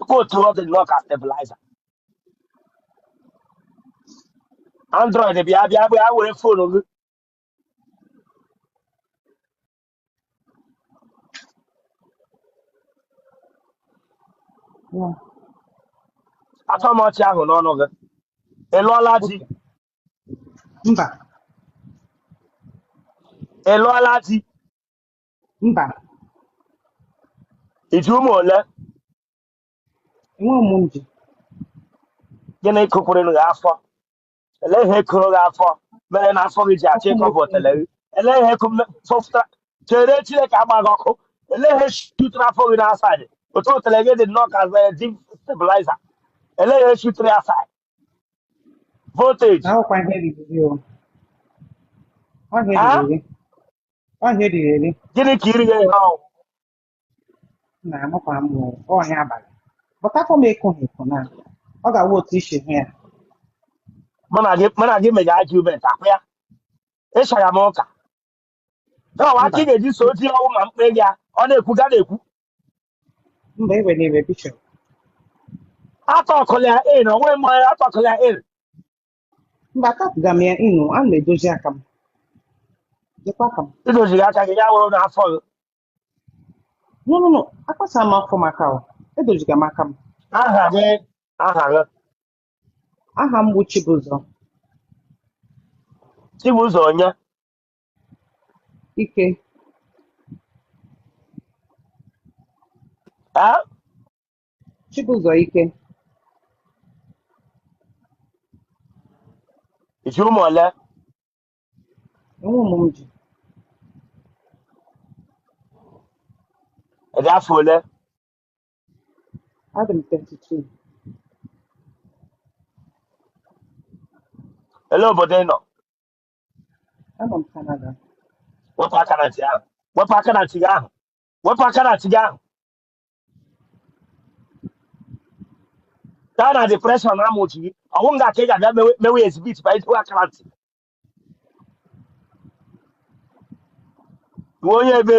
Nke otu ọ dị nnọọ ka stabilizer. Android bịa bịa bịa were fonu gị. Yeah. Atọ m ọchị ahụ n'ọnụ gị. Ị lụọla di? Okay. Mba. Ị lụọla di? mba i ji ụmụ ole nwa m ji gịnị kụpụrụ gị afọ elee ihe kụrụ gị afọ mere na afọ gị ji achọ ịkọ bụ otele gị elee ihe fọpụtara chere chineke agba gị ọkụ elee ihe shutụrụ afọ gị n'asaịdị otu otele gị dị nnọọ ka stabiliza elee ihe shutụrụ asaịdị voltage na ọkwa ihe riri gị o ọ ihe Ah? riri gị ọ ihe riri eri gịnị ka iri ya ihe ahụ na amụkwa m o ọhịa abalị bụtakwa m ịkụ ha ịkụ na ọ ga-awụ otu i si hụ ya mụ na gị mụ na gị mega argument akwụ ya ịsọya m ụka na ọ wụ aka ị mba ga-eji so di ya ọ wụ ma mkpe gị ya ọ na-ekwu ga na-ekwu mba e wenyere bishọp atọkụla ya in onwe m onye atọkụla ya in mba atọpụga m ya inu a na-edozi aka m dịkwa aka m i doziri aka gị ya wụrụ n'afọ gị no no no akpasa m afọ m aka o edoziga m aka m aha gị aha gị aha m bụ Chibụzọ Chibụzọ onye Ike eh Chibụzọ Ike i ji ụmụ ole enwe ụmụ m ji ị dị afọ ole adị m 32 elee obodo ị nọ Anọ m Canada. wepụ aka na ntị ahụ wepụ aka na ntị gị ahụ wepụ aka na ntị gị ahụ gaa na depreshọn ama otu gị ọ wụ nga ka ị ga-abịa mewe mewe ezibit ma i dowe aka na ntị ị wụ onye ebe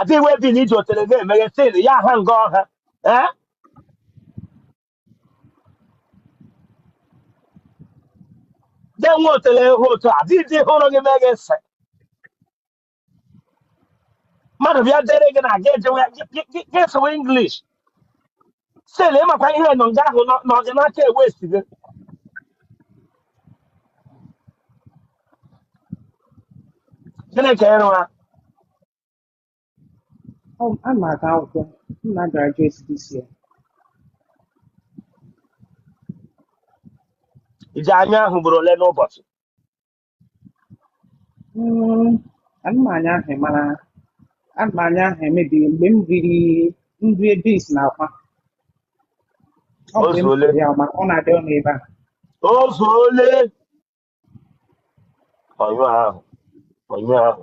adịghị wee bi na i ji otele na-emeghe sin ya ha nga ọha ee gị nwe otele hụ otu a dị dị hụrụ gị meghe nsị mmadụ bịa dere gị na gị ejewe gị- gị- gị- gị sụwa English sel ị makwa ihe nọ nga ahụ nọ na ọganaka ewest gị chineke ịrụ ha Ọ a na-aga akwụkwọ m na graduate this year iji anya ahụ bụrụ ole n'ụbọchị Mm, a ṅụ mmanya ahụ mara a ṅụ mmanya ahụ emebiri mgbe m riri nri ebis na akwa ọ O bụ mgbe m zuole. riri ya ma ọ na-adị ọnụ ebe a O zuole. Ọnyụ ahụ. Ọnyụ ahụ.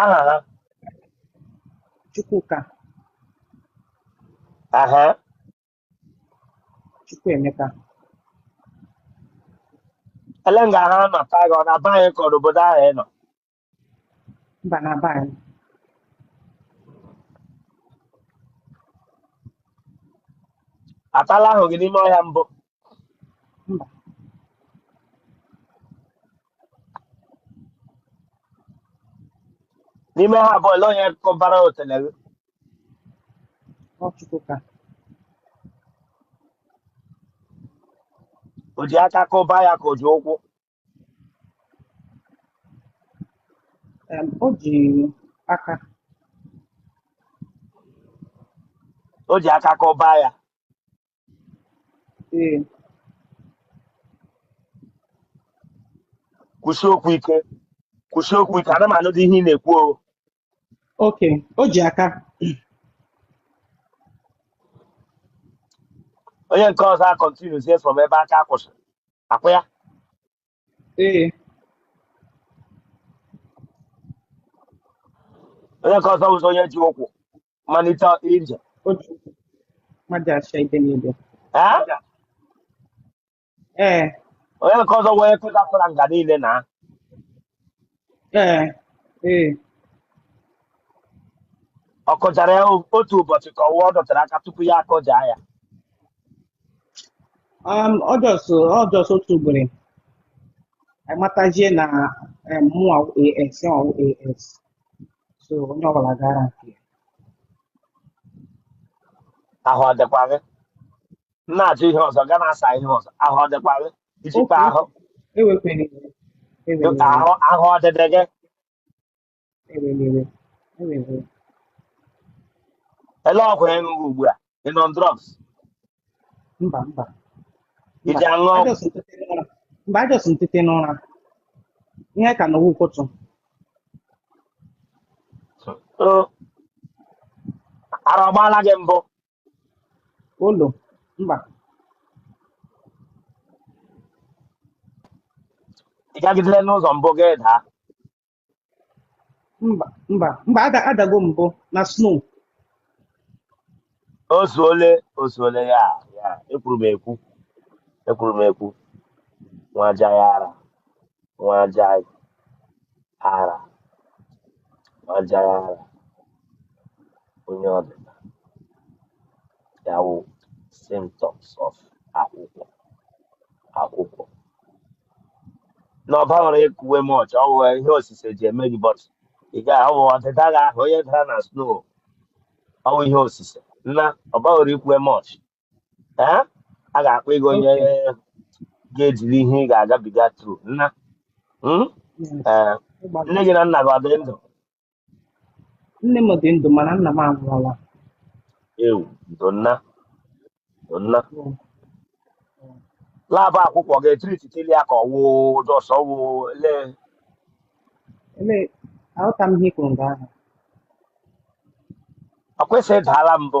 aha ha Chukwuka aha Chukwuemeka ele nga ha nọ ka gị ọ na be anyị ka ọ n'obodo ahụ ị nọ mba na be anyị atala ahụ gị n'ime ọhịa mbụ mba n'ime ha abụọ ole onye kụbara otele gị ọ Chukwuka o ji aka kụba ya ka o ji ụkwụ em, o ji aka o ji aka kụba ya Ee. kwusi okwu ike kwusi okwu ike ada m anụdị ihe ị na-ekwu o Okay. O ji aka. onye nke ọzọ acontinuezie from ebe aka kwụsị ọkwa ya Ee. onye nke ọzọ bụzi onye ji ụkwụ malite ije otu mmadụ acha ide n'ide ee ee onye nke ọzọ wee kụta fara nga niile na ee ee ọ kụjara ya otu ụbọchị ka ọ wụwa ọ dọtara aka tupu ya akụja ya um, ọ just ọ just otu ugboro amatazie na um, mụ as ọ as so onye ọbụla gara nke ya. ahụ ọ dịkwa gị m na-ajụ ihe ọzọ ga na-asa ihe ọzọ ahụ ọ dịkwa gị ijikwa oke ahụ ewekwana iwe ewena iwe ahụ ahụ ọ dịdị gị ewena iwe ewena iwe ele ọgwụ ị ṅụ ugbu a Ị nọ on drugs? mba mba Ị mba ji aṅụ ọgwụ? ajọs ntete n'ụra mba ajọs ntete n'ụra ihe ka na ụkwụtụ So, ara ọgbaala gị mbụ? olo mba Ị gagidere n'ụzọ mbụ gị daa? mba mba mba ada adago m mbụ na snow o zuole o zuole ya ya ekwuru m ekwu ekwuru m ekwu nwa aja ya ara nwa aja ara nwa aja ya ara onye ọdịda ya wụ symptoms of akwụkwụ akwụkwụ na ọba nwere ekuwe m ọchị ọ bụ ihe osise ji eme gị bọt ị ga ọ bụ ọdịda gị ahụ onye dara na snow ọ bụ ihe osise nna ọba nwere ikwuwe m ọchị ee a ga-akpa ego onye Okay. ga-ejiri ihe ị ga-agabiga tru nna mm? Yeah. Ee, nne Ị gbalịrị. gị na nna gị ọ dị ndụ Nne m dị ndụ mana nna m anwụọla. Ewoo, ndo nna, ndo nna. Laabụ akwụkwụ ga-etiri titili ya ka ọ wụ dọsọ wụ le. Ele, aghọta m ihe i kwuru nga ahụ. Akwa ị sị ị daala mbụ.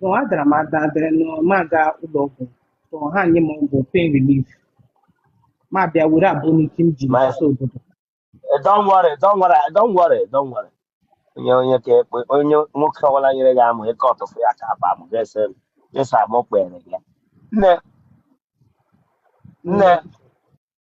No, adara m ada adịrị nụ m aga ụlọ ọgwụ so ha nye m ọgwụ pain relief ma bịa were abụ n'ike m ji My, n'isi obodo eh, don't worry, don't worry, don't worry, don't worry. Onye onye ka ekpe onye nwoke ọbụla nyere gị amụ ịkọ ọtụfụ ya ka akpa amụ ga-ese m. Ịsa amụ kpere gị. Nne, nne, Mm.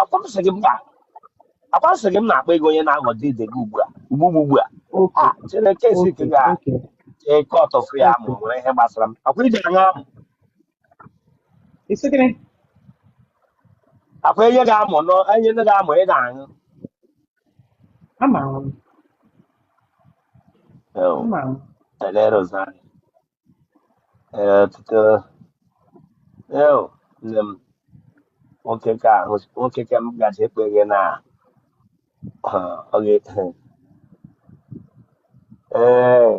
Akwa m sị gị mba. Akwa m sị gị m na-akpa ego onye na-aghọ dị dị gị ugbu a. Ugbu ugbu ugbu a. oke Ah, Chineke esi oke ka oke eke ọtọfụ ya amụ oke nwere ihe gbasara m. Akwa ị ga-aṅụ amụ. isi gịnị Akwa e nye gị amụ nọ e nye gị amụ ị na-aṅụ. ama m Oh, ama m Elere ụzọ anyị. ee ọtụtụ eo nne m nwoke ka ahụ nwoke ka m gaji ekpe gị na ha, ọ ga ee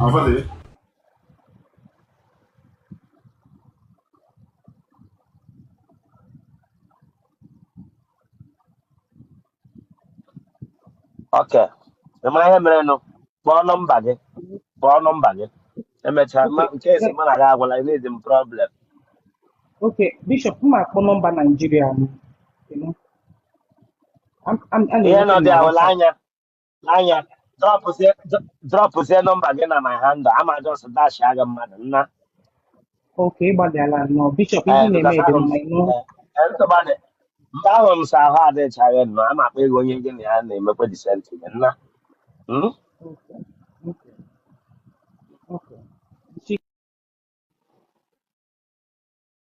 Avale. Ok. Ị mara ihe mere nụ? Kpọọ nọmba gị. Kpọọ nọmba gị. Emechaa ma nke esi mụ na gị agwala ị na-ezi m problem. Ok, Bishop, m akpọ nọmba Naijiria m. ihe nọ dị ahụ anya anya drọpụzie nọmba gị na my handle ama just dasha gị mmadụ nna oke ịgbalịala nọ bishop ihe eh, na-eme dị mma ịnụ eh, eh, mgbe ahụ m sị ahụ adịchaghị nọ ama akpa ego onye gị na ya na-emekwa decent gị nna hmm?